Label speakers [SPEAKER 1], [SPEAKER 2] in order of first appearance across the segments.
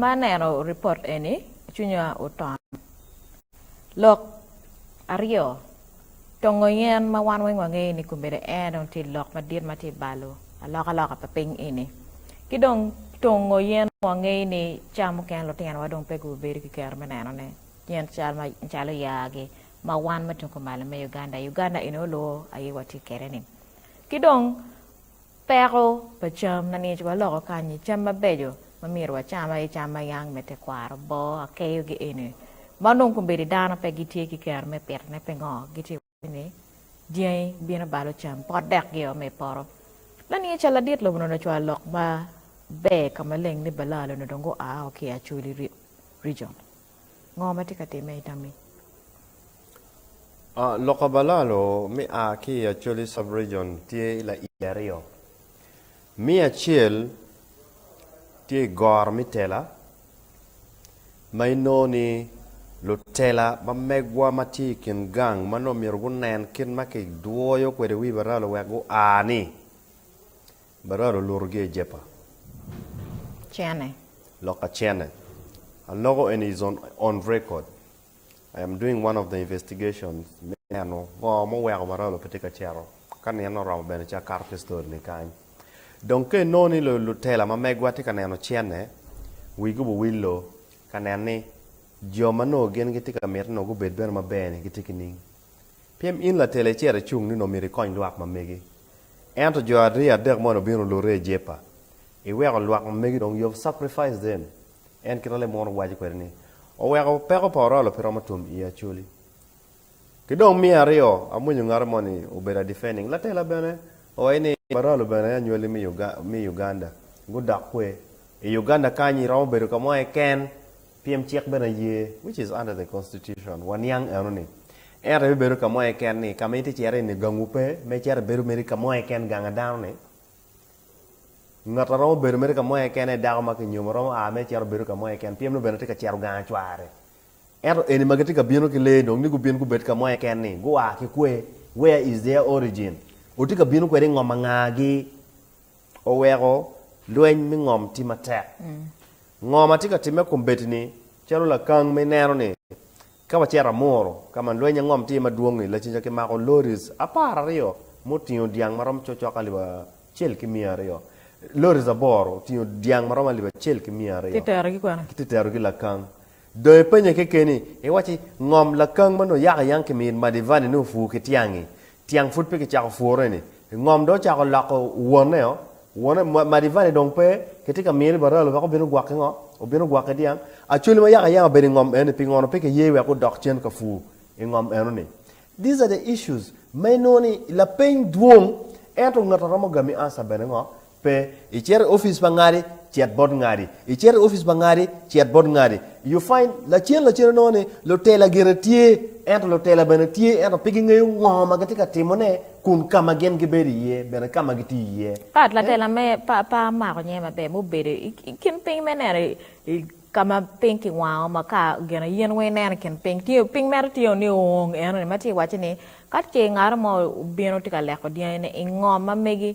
[SPEAKER 1] Ma aneno ripot eni, cwinya oton. Lok aryo, Tongo yen ma wan weng wangeyo ni kombeddi air dong tye lok madit ma tye balo alokaloka pa piny eni. Ki dong tongo yen wangeyo ni cam mukene lutinowa dong pe gubedo ki kero me nenone, yen cal macalo yaa-gi ma wan ma tung kumalo me Uganda, Uganda eni oluo aye watye kwede-ni. Ki dong. Peko pa cam, Nanic waloko kanyi cam mabeco ma myero wacam aye cam ma yang me tekwaro, boo, akeyo gi eni. Ma onongo kombeddi dano pe gitye ki kero me pitone pingo gitye waco ni dyangi bino balo cam pot dek gio me ipoto. Nanic a ladit lobo nono cwalo lok ma ber ka maleng ni Balaa lono dong gua o ki i Acholi region. Ngo ma tye ka timme i tammi?
[SPEAKER 2] Luka Balalo me a ki i Acholi Sub-Region tye i laii aryo. Me acel tye i goro me tela ma inongo ni lutela ma megwa ma tye i kin gang ma nongo myero gunen kit ma kidwoyo kwede wi Balalo wek gua-ni. Barak olutogi i Jepa.
[SPEAKER 1] Cene. Loka
[SPEAKER 2] cene. Aloko eni is on on record. I am doing one of the investigations me neno ngo muweko Baralo pe tye ka cito. Ka nino oromo bene ci akato ki story ni kany. Dong ka inongo ni lu lutela ma megwa tye ka neno cene, wigi obiwillo ka nen ni jo ma nongo gin gitye ka miti nongo gubed bene maber-ni gitye ki ning. Pien in latel ecito icung nino omyero ikony lwak ma megi. Ento jo ariyo adek moni obino olure i Jepa. Iweko lwak ma megi dong you have sacrificed them en kit ma lemunu owaco kwede ni, Oweko peko pa orolo pe romo tum i Acholi. Ki dong miya aryo amwonyo ngati moni obedo a defending. Latela bene owaco ni, Baralo bene anywali me Uganda, gudok kwe. I Uganda kany iromo bedo ka mo keken. Pien cik bene aye, which is under the constitution, wa niang eno ni, ento ibibedo ka mo keken ni, ka ma itye cito iye ni gangwu pe, me cito ibedo mere ka mo keken ganga dano ni, ngat a romo bedo mere ka mo keken aye dako ma kinyomo romo aa mere cito bedo ka mo keken, pyem nongo bene tye ka cito ganga cware. Ento eni ma gitye ka bino ki lee dong ni gubin gubed ka mo keken ni, gua ki kwe, where is their origin? Otye ka bino kwede i ngom angagi? oweko lweny me ngom tye matek. Ngo ma tye ka timme kombeddi-ni? Calo lakang ma ineno ni, ka wacito Amuru, ka ma lweny ngom tye iye madwong-ngi, lacen ca kimako loris apar aryo ma otingo dyang ma romo cokcok alip acel ki miya aryo, loris aboro otingo dyang ma romo alip acel ki miya aryo, kiterogi
[SPEAKER 1] lakang.
[SPEAKER 2] Dong ipenya kekeni, iwacci, 'Ngom lakang ma nongo yaka yang ki mir Madivani ni opur ki tyang-ngi? Tyang pud pe kicako pure-ni. Ngom dong ocako loko woneo. Wone, Madivani dong pe. Kitye ka miri baralo wek obin ogwokki ngo? Obin ogwokki dyang? Acholi ma yaka yang obedo i ngom eno-ni, pi ngono pe kiye wek odok cen ka pur i ngom eno-ni? These are the issues ma inongo ni lapeny dwong. Ento ngat a romo gami answer bene ngo? Pe. Icito i opic pa ngati, cit bot ngati. Icito i opic pa ngati, cit bot ngati. You find, Lacen lacen inongo ni lutela gire tye, ento lutela bene tye ento pe gingeyo ngo ma gitye ka timone kun ka ma gin gibedo iye bene ka ma gitye iye. Pat, Latela me
[SPEAKER 1] par pe amako nyinge maber ma obedo i kin piny me neno i ka ma piny ki wango ma ka gin aye in weng ineno i kin piny tye piny mere tye ni ong eno ni ma tye ka waco ni ka ce ngato mo obino tye ka leko dyangi ni i ngo ma megi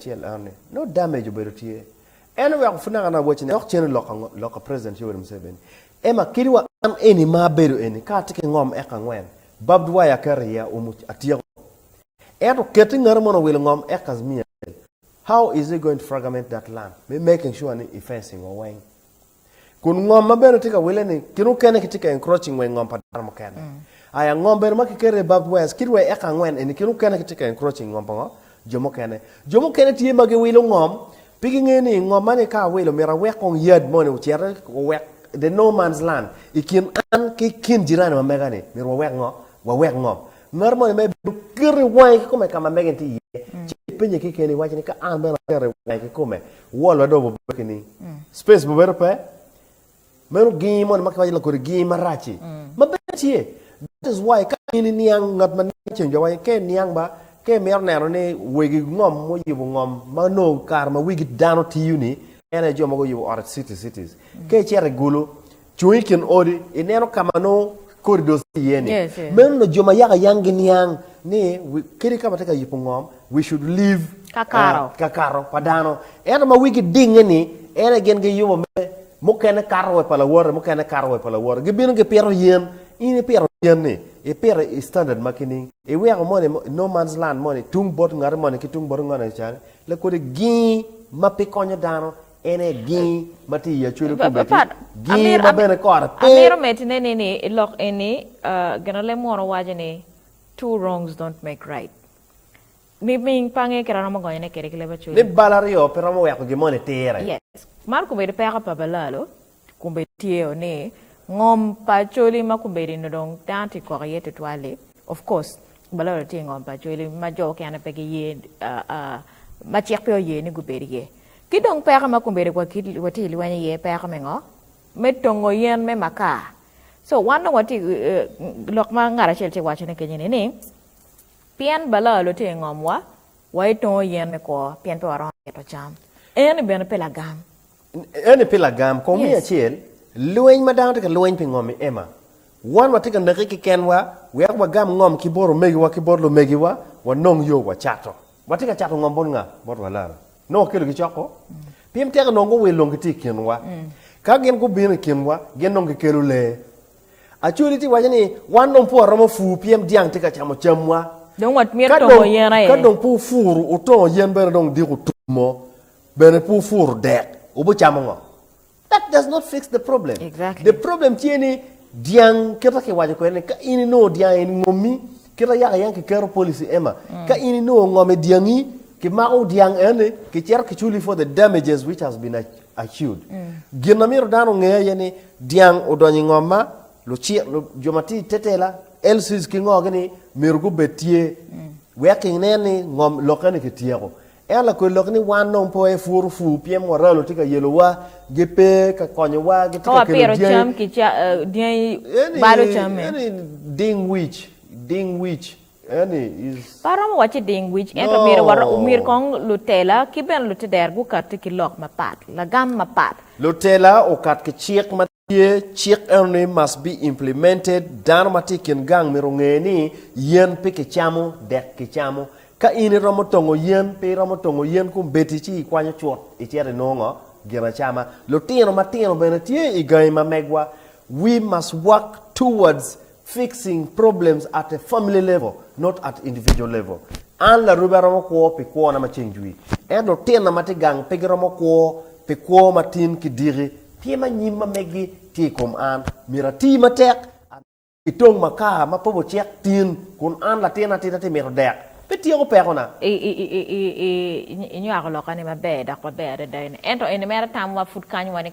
[SPEAKER 2] Cen Anne, no damage obedo tye. En oweko pud naka naka wacine dok cen oloko ango? Loko President Yoweri Museveni. Emma kit wa an eni ma abedo eni ka atye ki ngom eka angwen, barbed wire aketo i iya umu atyeko. Ento keti ngati mono owilo ngom eka miya cel. How is he going to fragment that land me making sure ni i fencing wa weng? Kun ngom ma bene tye ka wille ni kit mukene kitye ka encroaching weng ngom pa dano mukene. Aya ngom bene ma kiketo i Barbed West kit wee eka angwen eni kit mukene kitye ka encroaching ngom pa ngo? Jo mukene. Jo mukene tye ma giwilo ngom pi gingeyo ni ngom ma ni ka awilo myero awek kong yad moni ocite owek the no man's land i kin an ki kin jirani ma mega ni myero wawek ngo? Wawek ngom. Ngat moni mere bino keto i wange ki kome ka ma mege ni tye iye ci ipenye kekeni iwaci ni ka an bene aketo i wange ki kome Wall ma dong obedo ki ni space ma bedo pe meno gingi moni ma kiwaco la kodi gingi marac-ci ma bedo tye. That is why ka in iniang ngat ma niang ceng jo wa ka iniang ba ka imito neno ni wegi ngom muyubo ngom ma nongo kare ma wigi dano tiyo-ni en aye jo ma guyubo ot cities cities ka icito igulu Cung i kin odi, ineno ka ma nongo kodi dong tye iye-ni. Yes, yes. Meno nongo jo ma yaka yang giniang ni we, kadi ka watye ka yubo ngom, we should leave Kakato. ah, kakato pa dano. Ento ma wigi dinge-ni, en aye gin giyubo me mukene kato wa i pa lawote, mukene kato wa i pa lawote. Gibino gipito yen, in ipito yen-ni, ipito i standard ma kining? Iweko moni mo- no man's land moni tung bot ngati moni ki tung bot ngati ca-ni, lakodi gingi ma pe konyo dano, En aye gingi ma tye i acwele komedi, gingi ma bene kore pe. Amito medine ni ni
[SPEAKER 1] i lok eni ginolem munu waco ni two wrongs don't make right. Miming pa nge kit aromo gonyone kede ki leb acwele. Leb bal aryo pe romo
[SPEAKER 2] weko gin moni tire. Yes. Man
[SPEAKER 1] komedi peko pa balalo. Kombedityeyo ni ngom pa Acholi ma kombedi nongo dong dano tye kok iye tutwal-li. Of course, balolo tye ingom pa Acholi ma jo mukene pe giye, ma cik pe oye ni gubed iye. Ki dong peko ma kombedi watye ka lweny iye, peko me ngo? Me tongo yen me makar. So wan dong watye lok ma ngat acel tye ka wacone kenyeni ni, pien balolo tye ingomwa, waye tongo yen me kwo pien pe waromo pito cam. Eno bene pe lagam. Eni pi
[SPEAKER 2] lagam, kong miya acel, lweny ma dano tye ka lweny pi ngom i Emma. Wan watye ka neke kekenwa wek wagam ngom ki bot omegiwa ki bot lumegiwa, wanong yo wacato. Watye ka cato ngom bot nga? Bot Walana. Nongo wakelo gicoko? Pien tek onongo guwil dong gitye i kinwa. Ka gin gubino i kinwa, gin dong gikelo lee. Acholi tye ka waco ni wan dong pud waromo pur pien dyang tye ka camo camwa. Dong watmito
[SPEAKER 1] tongo yen aye. Ka dong pud wupuro,
[SPEAKER 2] wutongo yen bene dong diko tum mo. Bene pe wupuru dek, wubicamo ngo? That does not fix the problem. Exactly. The problem tye
[SPEAKER 1] ni
[SPEAKER 2] dyang kita ki waco kwede ni ka in inongo dyang in ngomi kita yaka yang ki keto policy Emma. Mm. Ka in inongo ngomi dyangi ki mako dyang eni ki cero ki chuli for the damages which has been accused. Mm. Gin na miro dano ngeye ye ni dyang odonyo ngoma lucik jo ma ti tetela LCs ki ngo gini miro gubed tye. Mm. Wek ki nen ni ngom lokeni ki tyeko. Ento lakwel lok ni wan dong pe waye puro pur pien moralo tye ka yelowa, gipe ka konyowa, gitye Ka ka kelo wapiro dyangi. cam ki ca-
[SPEAKER 1] eh, dyangi Any, balo camme. any ding
[SPEAKER 2] wic, ding wic, any is. Pe aromo wacci ding
[SPEAKER 1] wic, ento No. myero waro, myero kong lutela ki bene luteder gukatte ki lok mapat, lagam mapat. Lutela okat
[SPEAKER 2] ki cik ma. Tye cik eno ni must be implemented, dano ma tye i kin gang myero onge ni yen pe kicamo dek kicamo. Ka in iromo tongo yen, pe iromo tongo yen kombeddi ci ikwanyo cut icito inongo ngo? Gin acama. Lutino matino bene tye i gangi ma megwa. We must work towards Fixing problems at a family level, not at individual level. An larubi aromo kwo pi kwona ma ceng jwi, ento lutinna ma tye gang pe giromo kwo pi kwo ma tin ki diki. Pien ma nyim ma megi tye i kom an, myero ati matek adada. I tong makar ma pe ocek tin, kun an latin atika tye mito dek, pe tyeko pekona.
[SPEAKER 1] Inywako lokani maber dok maber adada eni. Ento eni mere tamwa pud kany wani keken.